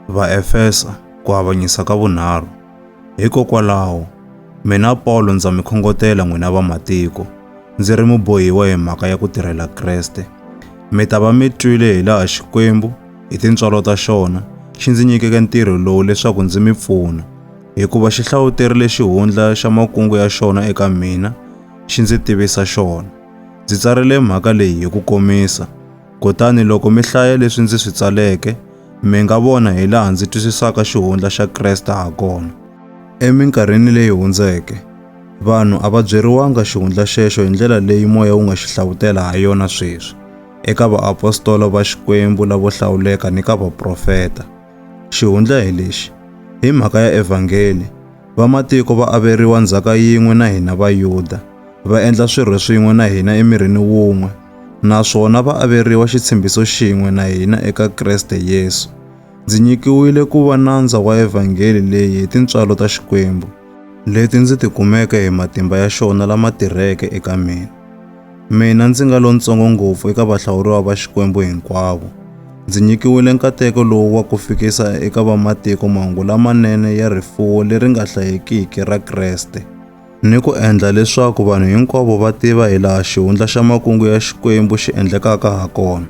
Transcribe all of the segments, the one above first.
Vaefesa, ku avanyisa ka vunharhu. Hikokwalaho, mina Pawulo ndza mi khongotela n'wina vamatiko, ndzi ri mubohiwa hi mhaka ya ku tirhela Kreste. Mi ta va mi twile hi laha Xikwembu, hi tintswalo ta xona, xi ndzi nyikeke ntirho lowu leswaku ndzi mi pfuna, hikuva xi hlawuterile xihundla xa makungu ya xona eka mina, xi ndzi tivisa xona. Ndzi tsarile mhaka leyi hi ku komisa, Kutani loko mi hlaya leswi ndzi swi tsaleke, mi nga vona hi laha ndzi twisisaka xihundla xa Kreste ha kona. Eminkarhini leyi hundzeke, vanhu a va byeriwanga xihundla xexo hi ndlela leyi moya wu nga xi hlavutela ha yona sweswi, eka vaapostola va Xikwembu lavo hlawuleka ni ka vaprofeta. Xihundla hi lexi, Hi mhaka ya evhangeli, vamatiko va averiwa ndzhaka yin'we na hina Vayuda, va endla swirho swin'we na hina emirini wun'we, naswona va averiwa xitshembiso xin'we na hina eka Kreste Yesu. Ndzi nyikiwile ku va nandza wa evhangeli leyi hi tintswalo ta Xikwembu, leti ndzi tikumeke hi matimba ya xona lama tirheke eka mina. Mina ndzi nga lontsongo ngopfu eka vahlawuriwa va Xikwembu hinkwavo, ndzi nyikiwile nkateko lowu wa ku fikisa eka vamatiko mahungu lamanene ya rifuwo leri nga hlayekiki ra Kreste. ni ku endla leswaku vanhu hinkwavo va tiva hi laha xihundla xa makungu ya Xikwembu xi endlekaka ha kona.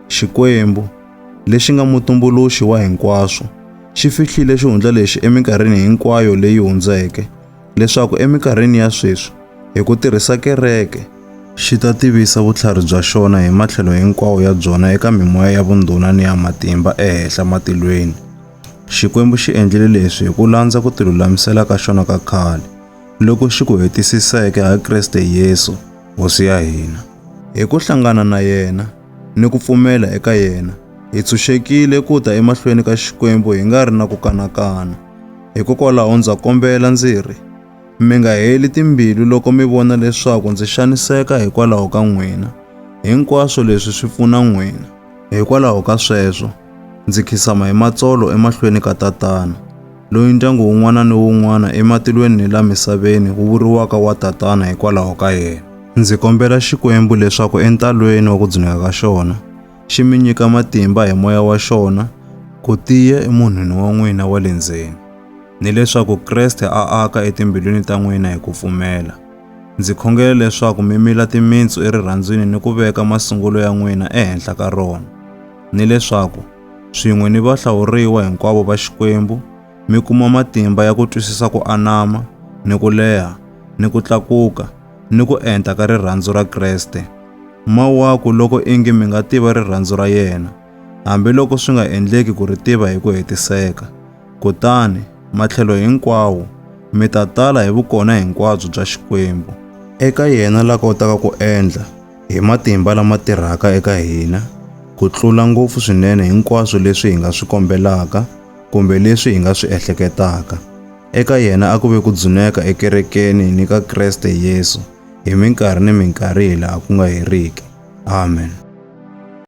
Xikwembu, lexi nga mutumbuluxi wa hinkwaswo, xi fihlile xihundla lexi eminkarhini hinkwayo leyi hundzeke, leswaku eminkarhini ya sweswi, hi ku tirhisa kereke, xi ta tivisa vutlhari bya xona hi matlhelo hinkwawo ya byona eka mimoya ya vundhuna ni ya matimba ehehla matilweni. Xikwembu xi endlile leswi hi ku landza ku tilulamisela ka xona ka khale, loku xi ku hetisiseke ha Kriste Yesu, Hosi ya hina. Hi ku hlangana na yena ni ku pfumela eka yena, hi tshunxekile ku ta emahlweni ka Xikwembu hi nga ri na ku kanakana. Hikokwalaho ndza kombela ndzi ri, mi nga heli timbilu loko mi vona leswaku ndzi xaniseka hikwalaho ka n'wina. Hinkwaswo leswi swi pfuna n'wina. Hikwalaho ka sweswo, Ndzi khisama hi matsolo emahlweni ka tatana, loyi ndyangu wun'wana ni wun'wana ematilweni ni la misaveni wu vuriwaka wa tatana hikwalaho ka yena. Ndzi kombela Xikwembu leswaku entalweni wa ku dzuneka ka xona, xi mi nyika matimba hi moya wa xona ku tiya emunhwini wa n'wina wa le ndzeni, ni leswaku Kreste a aka etimbilwini ta n'wina hi ku pfumela. Ndzi khongela leswaku mi mila timintsu erirhandzwini ni ku veka masungulo ya n'wina ehenhla ka rona. ni leswaku swin'we ni vahlawuriwa hinkwavo va Xikwembu mi kuma matimba ya ku twisisa ku anama ni ku leha ni ku tlakuka ni ku enta ka rirhandzu ra Kreste. Mawaku loko ingi mi nga tiva rirhandzu ra yena, hambiloko swi nga endleki ku ri tiva hi ku hetiseka. Kutani, matlhelo hinkwawo, mi ta tala hi vukona hinkwabyo bya Xikwembu. Eka yena la kotaka ku endla hi matimba lama tirhaka eka hina ku tlula ngopfu swinene hinkwaswo leswi hi nga swi kombelaka kumbe leswi hi nga swi ehleketaka. Eka yena a ku ve ku dzuneka ekerekeni ni ka Kreste Yesu hi minkarhi ni minkarhi hi laha ku nga heriki. Amen.